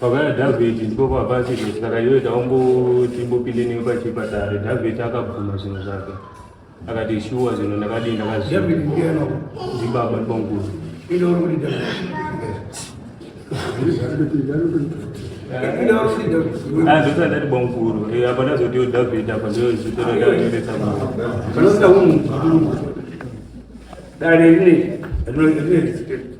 Pavana David ndipo pava chizvo saka iwe taungotimbopinde newe pachipatare. David akabvuma zvinhu zvake akati shuwa zvinhu ndakadii ndakazvibaba ndibanguru azoti andati banguru apa ndazotiwo David apa ndozvitora ndaendesa dare rine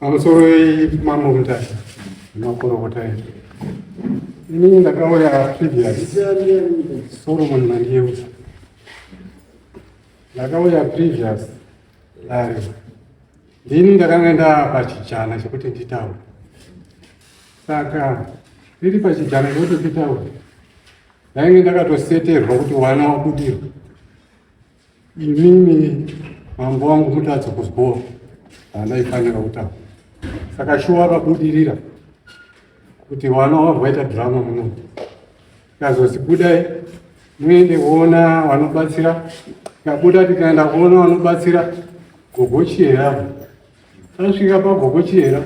pamusoro wemambo mutari makorokota ii inini ndakauya previous solomon mandiyeuza ndakauya previous dare ndini ndakanga ndapachijana chekuti nditaure saka ndiri pachijana chekuti nditaure ndainge ndakatoseterwa kuti wana wabudirwa Inini mambo wangu mutadza kuzboa andaifanira kutaura saka shuwa vabudirira kuti vana wavo vaita drama muno kazozi budai muende kuona vanobatsira kabuda tikaenda kuona vanobatsira gogochiyera tasvika pagogochiyera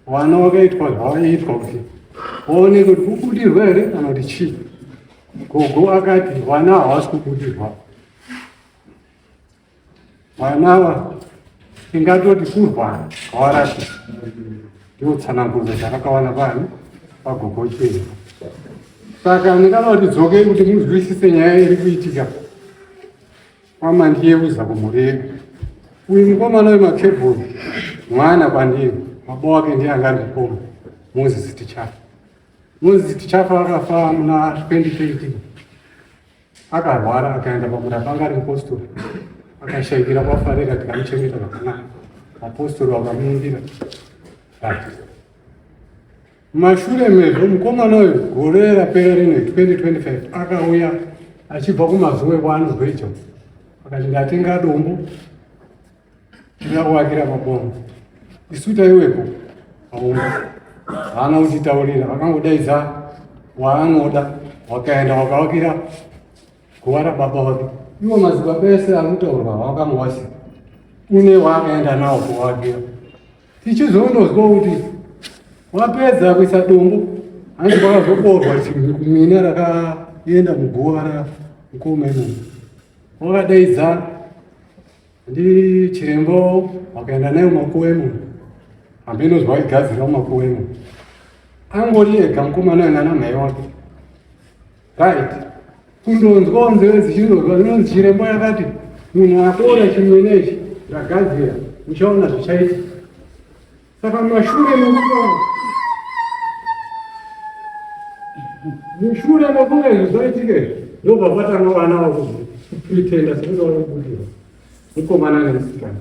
vana vakaitwa zvavaiitwa kuti vaone kuti kubudirwa here kana kuti chii gogo akati vana havasi kubudirwa vana ava ingatoti kurwara kwavarati ndiotsanangudzo dzakakawana pani pagogo chii saka ndingada kuti dzokei kuti muzwisise nyaya iri kuitika Mama ndiye uza kumurega. Uyu mukomana wemakebhuru mwana kwandiri baba wake ndiye anga ari mukoma Moses Tichafa. Moses Tichafa akafa muna 2020 akarwara akaenda pamura panga ari mupostori akashaikira kwafarira tikamuchengeta zvakanaka mapostori vakamuundira Mumashure mezvo mukomana uyu gore rapera rine 2025 akauya achibva kumazuwe kwaanobva icho akati ndatenga dombo ndina kuvakira mabongo isu taiwepo auma haana kutitaurira vakangodaidza waanoda wakaenda wakavakira guva rababa vake iwo mazibaba ese ari kutaurwa wakamuvasika une waakaenda nawo kuvakira tichizondozwa kuti wapedza kuisa dombo hanzi kwakazoborwa mina rakaenda muguva ra mkoma imomo wakadaidza ndi chirembo wakaenda nayo makuwa imomo hambe inozwa waigadzira makuwa imomo angori ega mukomana anga namhai wake Right. Kundonzwawo nzeve dzichirodzwa zvinonzi chirembo yakati munhu akora chimene ichi ndagadzira uchaona zvichaita. Saka mashure mekutaura mushure mekunge izvi zvaitike ndobva patanga vana vakupretenda sekuti vanobudirwa mukomana nemusikana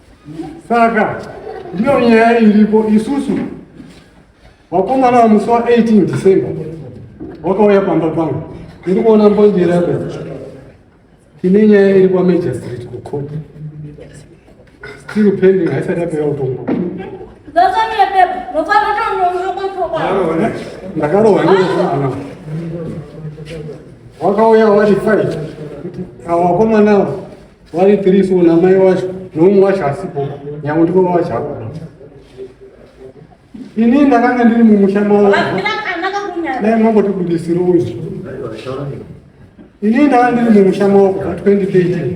saka ndiyo nyaya iripo isusu wakomana wamusi wa 18 december wakauya pamba pangu iri kuona mbonjera yako ine nyaya iri kwamajistrate kucourt still pending haisati yapera kutongo ndakarohwa ndoaa wakauya wari fai awakomanawo vari three so namai wacho noumwe wacho asipo nyange ndiko wacho apo ini ndakanga ndiri mumusha mavo dai mambotibudisirowo izvi ini ndakanga ndiri mumusha mavo kubva 2013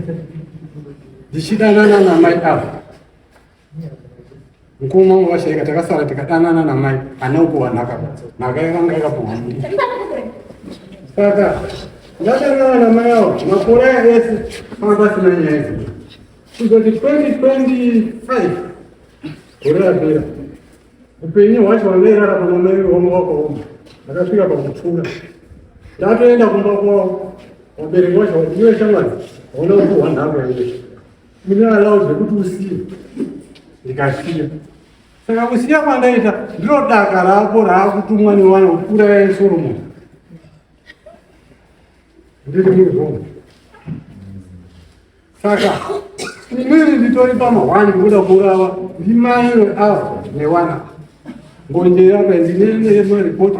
ndichidanana namai avo mukoma wangu vashaika takasara tikadanana namai ane ukuwa nhaka nhaka yakanga yakapuwa saka ndadanana namai avo makore aya ese anga pasina nyaya idzi kuzoti 2025 gore rapera upenyu hwacho wangairara pana mai wangu wakaoma ndakasvika pakutura ndatoenda kumba kwavo vabereki vacho iwe shamwari hauna kupuhwa nhaka yacho Mune allow zvekuti usiye. Ndikasiya. Saka kusiya kwandaita ndiro daka rako raakutumwa newana kukura yaye Solomon. Ndiri muzvombo. Saka imweni nditori pamahwani kuda kurava ndimaiwe ava newana. Mbonje yaka ndinene yemaripoti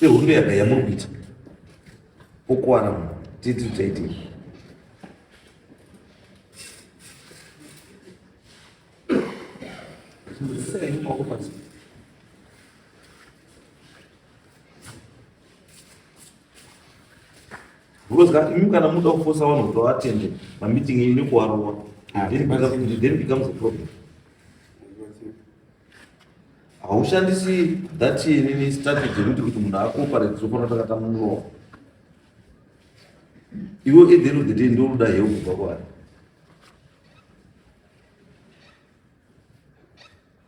Ihondo yaka yamuri kuita. Ukwana munhu. Titi titi. Sei moko pasi. Because imi kana muda kufosa vanhu kuti vatende mameeting enyu nekuvarova. Then it becomes a problem. haushandisi that nini strategy yekuti kuti munhu akoparate zvofanira takata muromo iwe at the end of the day ndoruda heu kubva kwari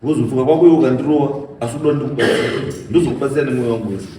wozofunga kwako iwe ukandirova asi uda ndikubatsira ndozokubatsira nemwoyo wangu wese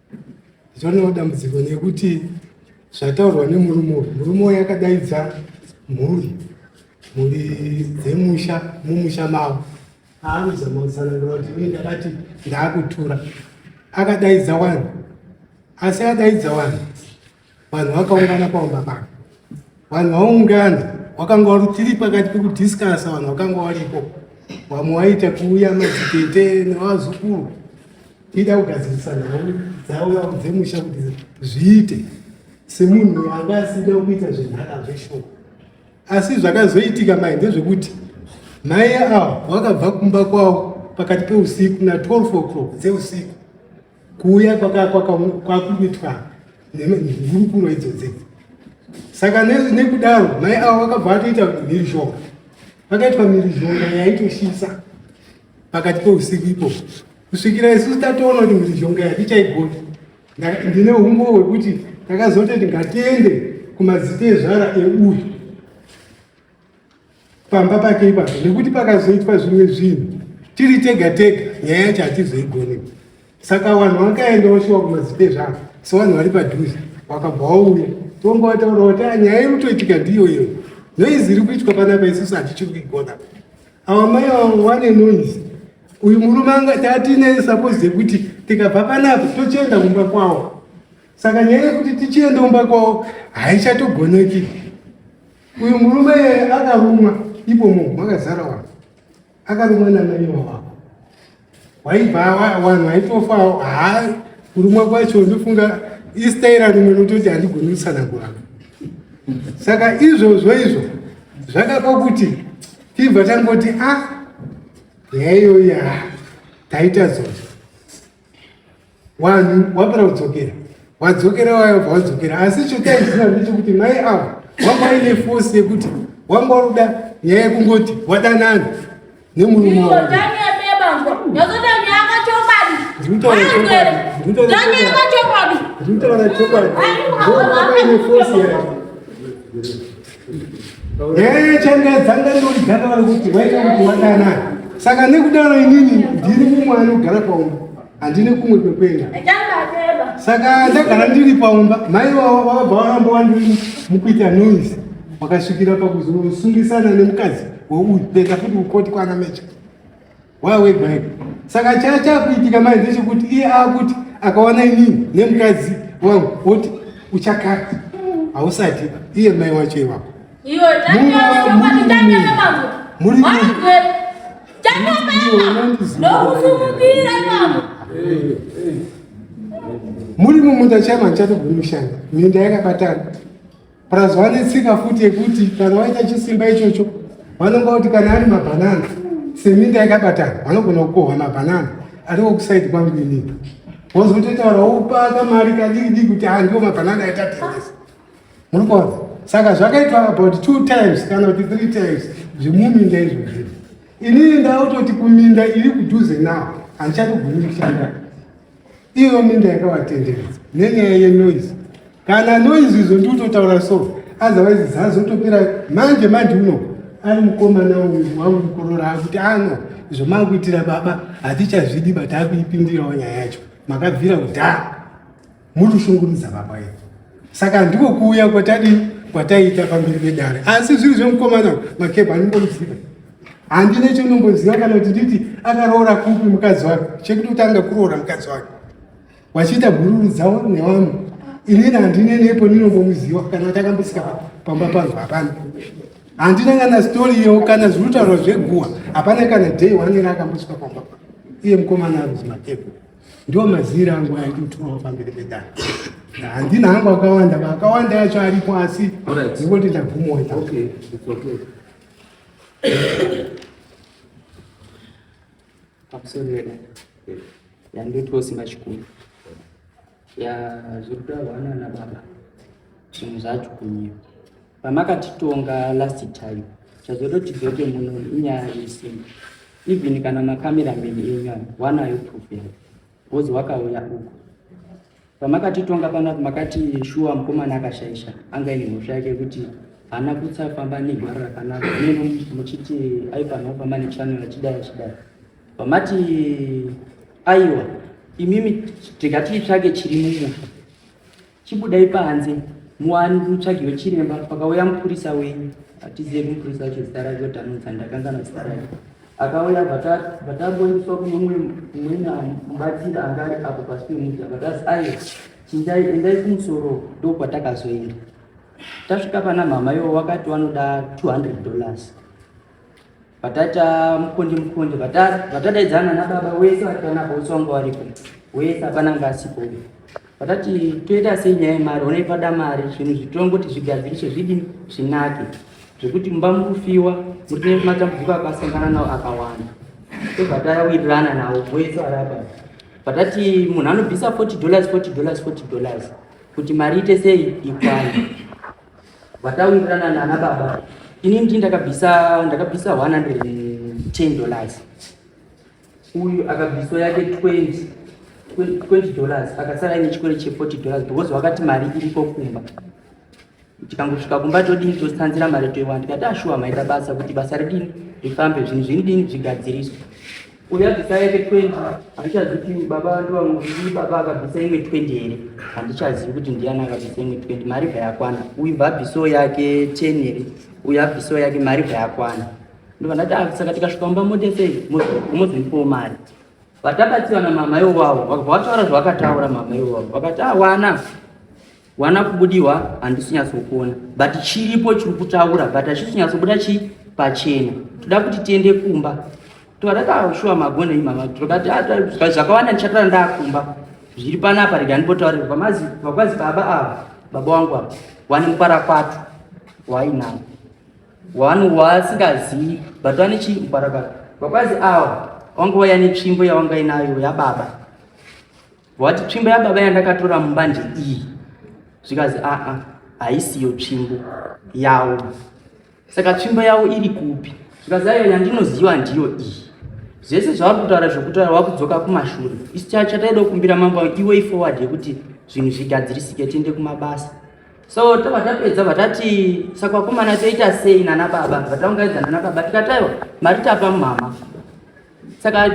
Zvinoda dambudziko nekuti zvataurwa nemurume uyu murume uyu akadaidza mhuri mhuri dzemusha mumusha mavo aanozama kutsanangura kuti ini ndakati ndaakutura akadaidza wani asi akadaidza wani Vanhu vakaungana paumba pano. Vanhu vaungana wakanga wari tiri pakati pekudiscasa vanhu vakanga varipo vamwe waita kuuya madzitete nevazukuru tiida kugadzirisa nhau dzavo dzemusha kuti zviite semunhu anga asida kuita zvenhaka zveshoko asi zvakazoitika mai ndezvekuti mai avo vakabva kumba kwavo pakati peusiku na 12 o'clock dzeusiku kuuya kwakuitwa nehurukuro idzodzi saka nekudaro mai avo vakabva vatoita mhirizhonga vakaitwa mhirizhonga yaitoshisa pakati peusiku ipo kusvikira isusu tatoona kuti mhirizhonga yatichaigona ndine umbo hwekuti takazototi ngatiende kumazita ezvara euyu pamba pake ipapo nekuti pakazoitwa zvimwe zvinhu tiri tega tega nyaya yacho hatizoigone saka vanhu vakaenda voshiwa kumadzite zvavo sevanhu vari padhuze wakabva wauya tonga wataura kuti ah, nyaya iri kutoitika ndiyo iyo noizi iri kuitwa panapa isusu hatichiri kuigona ava mai vavo vane noise uyu murume anga tatine suppose yekuti tikabva panapa tochienda kumba kwavo saka nyaya yekuti tichienda kumba kwavo haichatogoneki Uyu murume akarumwa ipo munhu makazara wanhu akarumwa namai wawako waibva wanhu waitofa haa kurumwa kwacho ndofunga istaira rimwe nototi handigoni kutsanangura saka izvozvo izvo zvakapa kuti tibva tangoti a ah, nyaya iyoyi a ah, taita zozvo wanhu wapera kudzokera wadzokera wayobva wadzokera asi chotaizina ndechekuti mai avo wanga aine fosi yekuti wanga waruda nyaya yekungoti wadanana nemurume nyaya yechanga dzanga ndori dzanga vari kuti waita kuti wadanana saka nekudaro inini ndiri mumwe anogara paumba handine kumwe kwekuenda saka ndagara ndiri paumba mai vavabva varamba wandiri mukuita noise wakasvikira pakuzosungisana nemukadzi weuyu kuenda futi kukoti kwana mecha wawebaika saka chaa chakuitika mai ndechekuti iye akuti akaona inini nemukadzi wangu woti uchakati hausati iye mai wacho iwako muri mumunda chama chatoguri kushanda minda yakabatana plus vane tsika futi yekuti kana waita chisimba ichocho vanonga kuti kana ari mabhanana seminda yakabatana vanogona kukohwa mabhanana ariko kusaidi kwangu inini wozototaura wopaka mari kadikidiki kuti andiwo mabhanana atatengesa Murikuona? Saka zvakaitwa about two times kana kuti three times zvemuminda izvozvi. Inini ndautoti kuminda iri kudhuze nawo hanchatogumi kushanda. Iyo minda yakawatenderedza nenyaya yenoise. Kana noise izvo ndiutotaura so otherwise zazotopera manje manje uno ari mukomana uyu wangu mukorora akuti ano ah, izvo makuitira baba hatichazvidi but akuipindirawo nyaya yacho makabvira kudhara Mutushungurudza baba yedu. Saka ndiko kuuya kwatadi kwataita pamberi pedare. Asi zviri zvemukomana makepa anongoziva. Handine chinombonziva kana kuti nditi akaroora kupi mukadzi wake. Chekuti utanga kuroora mukadzi wake. Wachiita bhururu dzawo nevanhu. Inini handine nepo ndinongomuziva kana takambosika pamba pangu hapana. Handina kana story iyo kana zvinotaurwa zveguwa. Hapana kana day wanera akambosika pamba. Iye mukomana ari makepa. ndiwo maziri angu aiti utwawo pamberi pedare handina hangu akawanda vakawanda yacho aripo asi ndingoti ndagumota pakusorera yandotiwo simba chikuru ya zviri kutaurwa nana baba zvinhu zvacho kunyiwa pamakatitonga last time chazoda kuti tidzoke muno inyaya yesimba even kana makamerameni enyu ayo wanayo proof yayo bhozi wakauya uko pamakatitonga panapo makati shuwa mukomana akashaisha anga ine mhosva yake yekuti haana kutsafamba negwaro rakanaka neno muchiti aifanira kufamba nechanel achidai achidai pamati aiwa imimi tikati itsvake chiri mumusha Chibudai panze muwani mutsvagiwe chiremba pakauya mupurisa wenyu atizive kumupurisa wacho zita rake kuti anonzi andakangana zita rake akauya vatamboendeswa kune umwe umwena mubatsiri anga ari apo pasi pemuti akatasi aye chindai endai kumusoro ndo kwatakazoenda tasvika pana mhama iwo wakati wanoda 200 dollars Vatata mukundi mukundi vatadaidzana nababa wese vari pana bosi wangu varipo wese hapana ngasipo vatati toita sei nyaya yemari onei pada mari zvinhu zvitongoti zvigadziriswe zvidini zvinake zvekuti mumba mukufiwa muri nematambudziko akasangana nawo akawanda tobva tawirirana nawo wese varapa vatati munhu anobvisa 40 dollars 40 dollars 40 dollars kuti mari ite sei ikwane vataurirana nana baba ini ndi ndakabvisa ndakabvisa 110 dollars uyu akabviswa yake 20 20 dollars akasara ine chikwere che 40 dollars because wakati mari iriko kumba tikangosvika kumba todini totsanzira mari toiwana tikati ashuwa maita basa kuti basa ridini rifambe zvinhu zvinidini zvigadziriswe Uya bvisa yake 20 handichazivi kuti baba vandu vamwe ndii baba akabvisa imwe 20 here handichazivi kuti ndiani akabvisa imwe 20 mari bva yakwana uyu bva abvisawo yake 10 here uyu abvisawo yake mari bva yakwana ndobva ndati ah, saka tikasvika mumba mote sei mozondipawo mari vatabatsirana mama iwo wavo vakabva vataura zvavakataura mama iwo wavo vakati ah wana wana kubudiwa handisi nyatsokuona but chiripo chiri kutaura but hachisi nyatsobuda chi pachena toda kuti tiende kumba toadatashuwa magona imama tokati ah, zvakawanda ndichataura ndakumba zviri panapa rega ndipotaurira pamazi vakwazi baba ava baba wangu ava wani mukwara kwato wainavo wani wasingazivi but wani chii mukwara kwato vakwazi awa wangu waya netsvimbo yawangainayo yababa Wati tsvimbo yababa yandakatora mumbanje iyi zvikanzi aa haisiyo tsvimbo yawo saka tsvimbo yawo iri kupi zvikanzi ayo yandinoziva ndiyo iyi zvese zvavari kutaura zvekutaura wakudzoka kumashure isu chataida kukumbira mambo iway forward yekuti zvinhu zvigadzirisike tiende kumabasa so tava tapedza vatati sakwakomana toita sei nana baba vataungaidza nana baba tikataiwa mari tapa mumama saka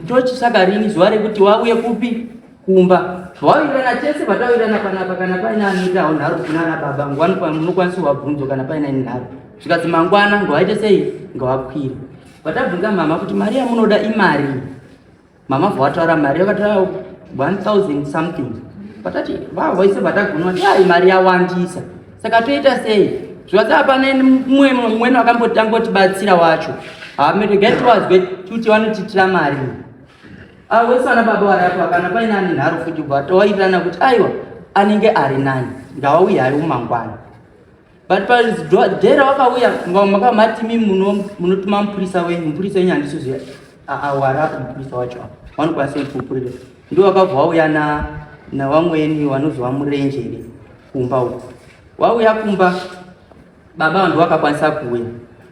tochitsvaga rini zuva rekuti wauye kupi kumba zvawawirana chese patawirana panapa kana paine anoitawo nharo kunana baba ngwani munokwanisa wabvunzo kana paine ini nharo zvikanzi mangwana ngawaite sei ngawakwire patabvunza mama kuti mari yamunoda imari mama vawataura mari yakataura 1000 something patati vavoise patagunwa yaa imari yawandisa saka toita sei zvivaza hapana mumwe mumweni wakambotanga utibatsira wacho hameregai tiwazwe kuti vanotiitira mari avo vese vana baba varapwa kana paine ane nharo futi kubva towairirana kuti aiwa anenge ari nani ndawauya hari umangwana but padhera wakauya makamatimi munotuma mupurisa wenyu mupurisa wenyu handisiziva awarapa mupurisa wacho vanokwanisa kutipupurira Ndiwo akabva wauya na nawamweni wanonzi wamurenjere kumba uko wauya kumba baba vanhu vakakwanisa kuuya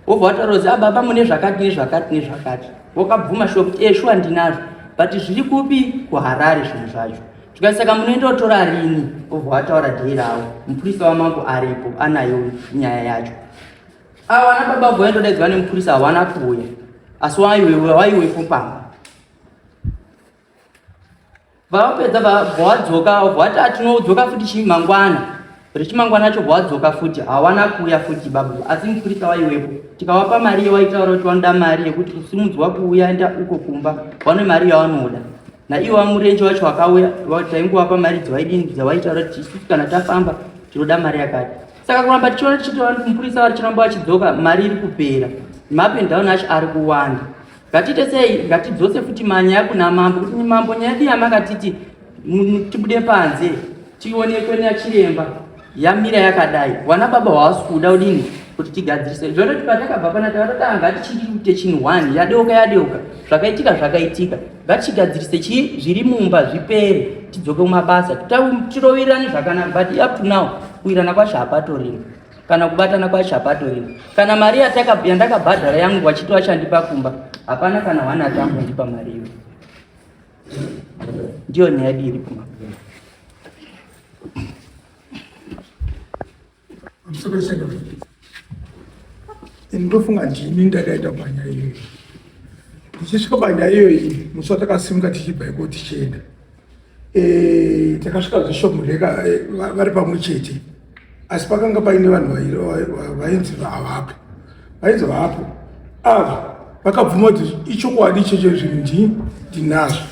wobva wataura kuti ah, baba mune zvakati nezvakati nezvakati wakabvuma shuwa kuti e shuwa ndinazvo but zviri kupi kuharare zvinhu zvacho zvikai saka munoenda kutora rini wobva wataura dhei ravo mupurisa wamambo aripo anayo nyaya yacho awana baba bvoya ndodaidzwa nemupurisa hawana kuuya asi waiwewepo pamba vapedza vwadzoka vati atinodzoka futi chii mangwana rechimangwana acho vwadzoka futi hawana kuuya futi babu asi mupurisa waiwepo tikawapa mari yewaitaura kuti wanoda mari yekuti kusimudzwa kuuya enda uko kumba vane mari yawanoda naiwo vamurenje wacho wakauya taingowapa mari dzewaidini dzewaitaura kuti isu kana tafamba tinoda mari yakati saka kuramba tichiona tichiti mupurisa varichinamba vachidzoka mari iri kupera mapendown acho ari kuwanda Ngatiite sei? Ngatidzose futi manyaya kuna mambo kuti mambo nyaya yedu yamakatiti tibude panze tionekwe nachiremba yamira yakadai wana baba hawasi kuda udini kuti tigadzirise zvototi patakabva pana takatotanga ngatichiri kuite chinhu one yadeuka yadeuka zvakaitika zvakaitika ngatichigadzirise chii zviri mumba zvipere tidzoke kumabasa tirovirane zvakanaka but up to now kuwirana kwacho hapatorina kana kubatana kwacho hapatorina kana mari yandakabhadhara yangu wachiti wachandipa kumba hapana kana hwana atamboipa mari iyo ndiyo nyaya dii iri kumba ndofunga ndini ndakaita panyaya iyoyi ndichisvika panyaya iyoyi musi watakasimuka tichibva iko tichienda Eh, takasvika zvishop ndeka eh, vari pamwe chete asi pakanga paine vanhu vainzi havapo vainzi havapo ava vakabvuma kuti ichokwadi ichocho zvinhu ndii ndinazvo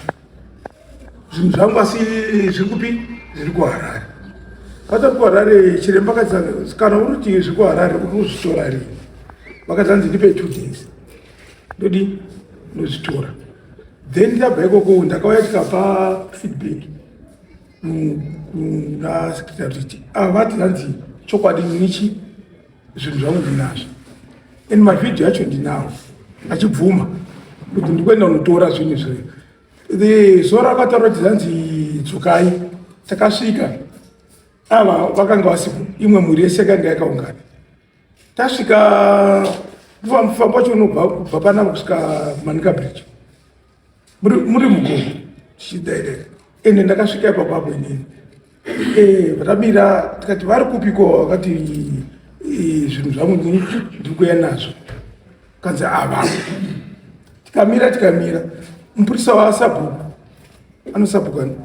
zvinhu zvangu asi zviri kupi zviri kuharare vatari kuharare chiremba kati kana uri kuti zviri kuharare uri kuzvitora rini vakati hanzi ndipe two days ndodi ndozvitora then ndabva ikoko ndakauya tikapa feedback kuna secretary kuti avati ah, hanzi chokwadi nichi zvinhu zvangu ndinazvo and mavideo yacho ndinawo achibvuma kuti ndikuenda unotora zvinhu zve the zuva rakataura kuti hanzi dzokai takasvika ava vakanga vasipo imwe mhuri yese kanga yakaungana tasvika mufambo wacho unobva kubva panama kusvika manika bridge muri mugomo tichidaidai ende ndakasvika ipapo apo inini eh, vatamira tikati vari kupiko vakati eh, zvinhu zvangu ndiri kuya nazvo kanzi ava tikamira tikamira mupurisa wasabhuku anosabhukani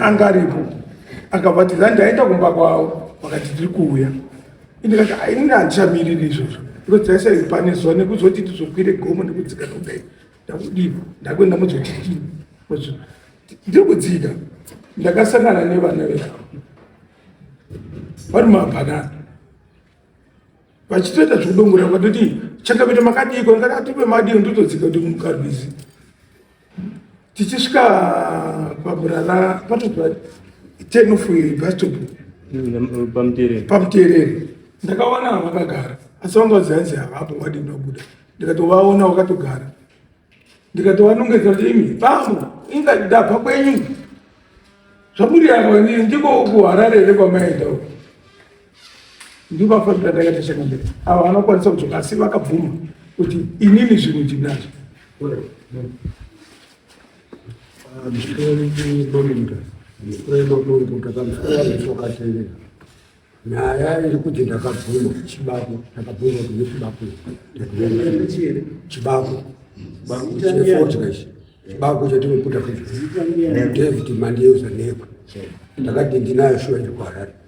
anga aripo akabva ti zani ndaenda kumba kwavo vakati tiri kuuya indikati ainini handichamiriri izvozvo because taisai pane zuva nekuzoti tizokwire gomo nekudzika nokudai ndakudii ndakuenda muzotitii ndiri kudzika ndakasangana nevana veavo vari mabhanana vachitoita zvekudongora vatoti chakavita makadiiko ndakati atipe madii ndotodzika kuti mukarwizi tichisvika paburana patobva ten of bastop pamuterere ndakawana vakagara asi vanga vazihanzi havapo wadi ndabuda ndikatovaona wakatogara ndikatovanongedza kuti imi bambo inga ndabva kwenyu zvamuri yako ndiko kuharare here kwamaenda uko ndivo vafanira ndakaita chakamberi ava vanokwanisa kudzoka asi vakabvuma kuti inini zvinhu ndinazvo nyaya iri kuti ndakabvuma chibako ndakabvuma kune chibako chibako chefodya ichi chibako chatinoputa kuti david mandiyeuza nekwe ndakati ndinayo shuwa ndikuharare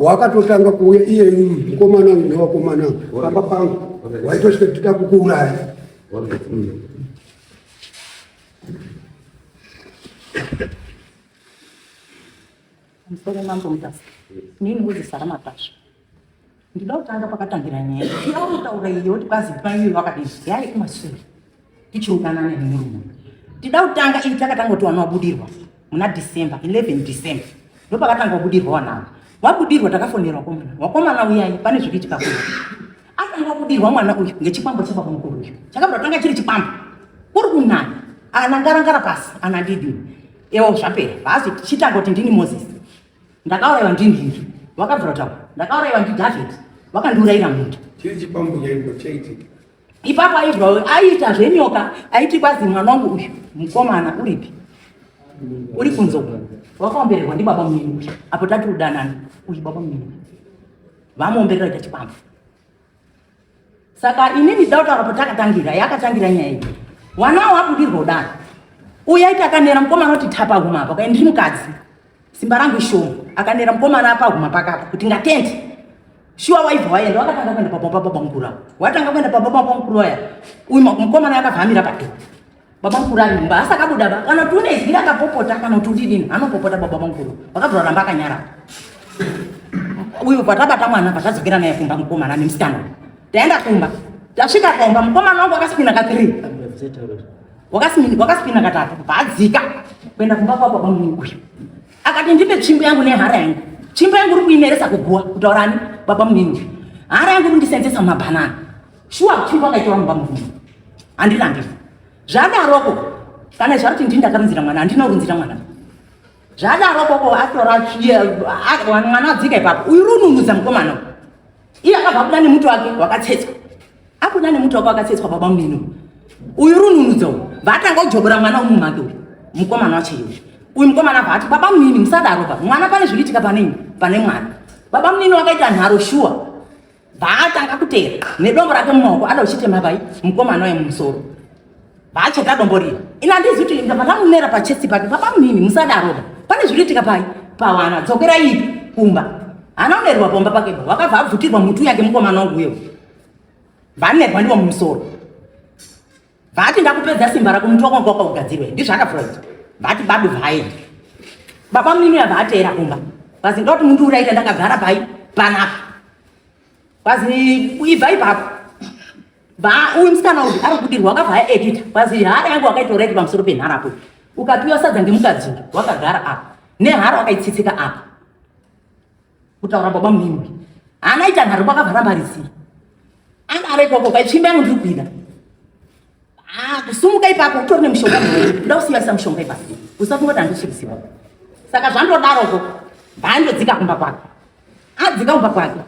wakatotanga kuuya iye mukomana uyu nevakomana pamba pangu waitosvika tida kukuuraya musoro mambo mutasa nini kuzisara matasva Ndinoda kutanga pakatangira nyaya yauri kutaura iyo kuti kwazi mai iwe vakadini yai kumasure tichiudanana nemurume tida kutanga ini takatanga kuti wana wabudirwa muna december 11 december ndo pakatanga wabudirwa wanavo wabudirwa takafonerwa komana wakomana uyai pane zvikuitika kuno atanga wabudirwa mwana uyu ngechikwambo chebaba mukuru uyu chakabva tanga chiri chikwambo kuri kunani anangarangara pasi anandidini ewo zvapera vaazi tichitanga kuti ndini moses Ndakauraiwa ndinhinhi vakabvira taura. Ndakauraiwa ndiDavid vakandiurayira munda. Chii chipambunya ipo chaitika? Ipapo aibva aiita zvenyoka aiti kwazi mwana wangu uyu mukomana uripi? Uri kunze uko. Wakaombererwa ndibaba munini uyu. Apo tati udanana uyu baba munini. Vamuomberera chipambu. saka inini dida kutaura potakatangira yakatangira nyaya iyi wanawo wabudirwa kudaro uya iti akanera mukomana kuti tapa guma apa kaendiri mukadzi simba rangu ishoma akanera mukomana apa guma pakapa kuti ngatende shuwa waibva waenda wakatanga kuenda pababa baba mukuru avo watanga kuenda pababa baba mukuru aya uyu mukomana yakavamira pato baba mukuru ari mumba asi akabuda ba kana kuti une izwi rakapopota kana kuti udidini anopopota baba mukuru vakazoramba akanyara uyu patabata mwana pachadzokera naye kumba mukomana nemusikana taenda kumba tasvika kumba mukomana wangu wakasipina katiri wakasipina katatu paadzika kuenda kumba kwa baba munini uyu akati ndipe tsvimbo yangu nehara yangu tsvimbo yangu uri kuimeresa kuguwa kutaurani baba munini uyu hara yangu uri kundisenzesa mumabhanana shuwa kuchii kwakaita vanhu pamuviri handirambi zvadaroko kana zvakuti ndini ndakarunzira mwana handina kurunzira mwana zvadarokoko atora mwana adzika ipapo uyu rununudza mukomana iye akabva kuda nemuti wake wakatsetswa akuda nemuti wake wakatsetswa baba mumino uyu rununudza uyu vaatanga kujobora mwana wemumhake uyu mukomana wacho iyoyo uyu mukomana abva ati baba munini musadaro pa mwana pane zviriitika pane pane mwana baba munini wakaita nharo shuwa Vaatanga kuteera nedombo rake mumaoko ada uchitema pai mukomana uye mumusoro. Vaacheka dombo riya. Ina ndizi kuti ndabva ndamunera pachesti pake pabamunini musadaro. Pane zviritika pai pawana dzokera ipi kumba. Ana unerwa pomba pake wakabva abvutirwa mutu yake mukomana wangu uyo. Vanerwa ndiwo mumusoro. vati ndakupedza simba rako muti wako wakaoka ugadzirwe ndizvaka freud vati badu vhaye baba munini yava ateera kumba vazi ndoti mundi uraita ndakagara pai panapa vazi ibva ipapo uyu musikana uyu ari kudirwa wakavhaya edita vazi hara yangu wakaitora iti pamusoro penhara apo ukapiwa sadza ngemukadzi wakagara apa nehara wakaitsitsika apa kutaura baba muningi haana ita nharo pakavhara mari sei anga ari ikoko paitsvimba yangu ndiri kuida ah, kusumuka ipapo utori nemushonga kuda kusiyasa mushonga ipapo usafunga kuti handisvirisiwa saka zvandodaroko mhandodzika kumba kwake adzika kumba kwake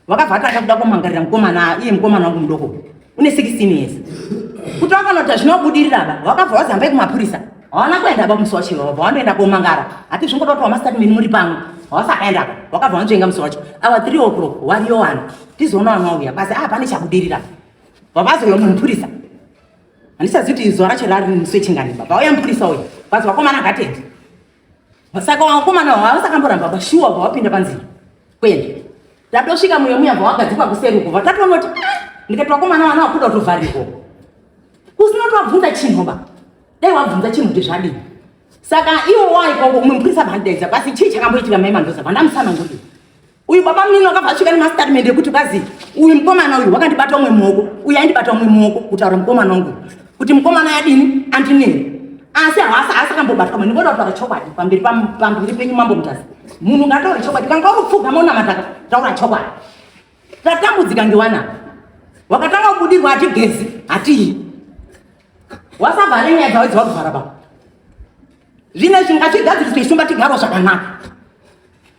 wakavhata akakuda kumangarira mukomana iye mukomana wangu mudoko une 16 years kuti wakanoti zvinobudirira ba wakabva wazamba yekumapurisa hawana kuenda ba musi wacho wabva wandoenda komangara hati zvingoda kuti wamastatimeni muri pamwe hawasakaenda ba wakabva wanzvenga musi wacho awa 3 o'clock wariyo wani tizoona wani wauya basi a ah, pane chabudirira vabazoyo mupurisa handisazivi kuti zuva racho rari musi wechingani ba vauya mupurisa uyu basi vakomana gatete Saka wakomana wavo havasakamboramba bashuwa wabva wapinda panzira kwende tatosvika muyo muya bva wagadzikwa kuseri uko vatatonoti ah, ndikati wakomana vana wakuda kutovharirwa usina kuti wabvunza chinhu ba dai wabvunza chinhu kuti zvadii saka iwo waikoko umwe mupurisa bhandaidza pasi chii chakamboitika mai mandoza vandamusana nguri uyu baba mnini wakabva asvika nemastatimende ekuti kwazi uyu mukomana uyu wakandibata umwe muoko uyu aindibata umwe muoko kutaura mukomana wangu kuti mukomana yadini andinei asi hawasi hasi akambobatwa mani ngoda kutaura chokwadi pamberi pamberi penyu mambo mutasi munhu ngataure chokwadi kana kwauri kupfuga maonamataka taura chokwadi tatambudzika ngewana wakatanga kubudirwa hatigezi hatii wasavhare nyaya dzawo dzawakuvhara baba zvine zvingachigadziriswa isumba tigaro zvakanaka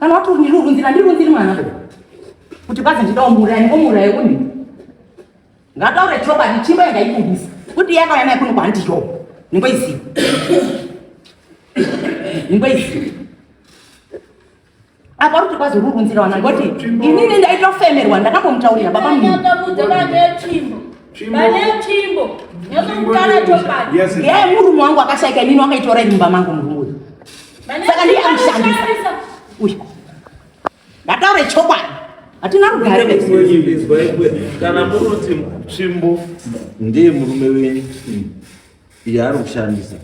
Kana wati undirunzira ndirunziri mwana kuti bazi ndidawo muurayi ngomuurayi uni ngataure chokwadi chimba yanga ikubisa kuti yakauya naye kuno kwanti yo ningoiziva ningoiziva apa uri kuti bazi ururunzira wana ngoti inini ndaitofemerwa ndakambomutaurira baba mnini murume wangu akashaika inini wakaitora iri mumba mangu murume saka ndiye amushandisa uyu ngataure chokwadi hatina rugare kana munoti tsvimbo ndiye murume wenyu yaari kushandisa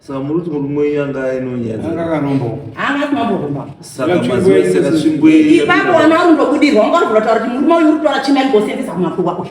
saka muri kuti murume wenyu anga ainonyaaaaatsvimboipapo wana ari ndokudirwa unga uri kutotaura kuti murume uyu uri kutora chimai ngosenzesa kumakuwa uyu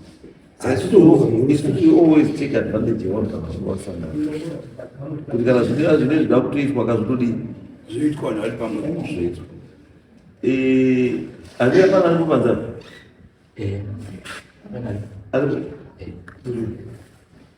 asi kuti always take advantage yevanhu vakanga vasangana kuti kana zvinea zvine zvida kutoitwa ka zvitodii zvoitwa vanhu vari pamwe zvoitwa andira pana ari kupanza ari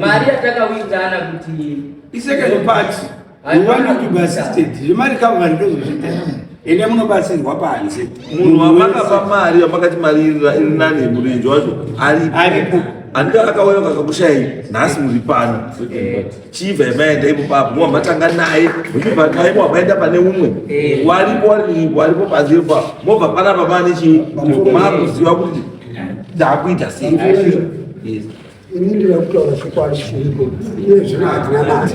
mari yatakawitana kuti isecond part iwana to be assisted zvemari kavani ndozozvita ende munobatsirwa panze munhu wamakapa mari yamakati mari iri nani murenje wacho aripo andika akauya kakakushayai nhasi muri pano chiva yamaenda ipo papo mwa matanga naye muchibva naye mwa maenda pane umwe eh. waripo waripo pazivo papo mobva pana baba nechi makuziva kuti ndakuita sei ini ndinoda kutaura chokwadi chiriko iye zvino hatina mari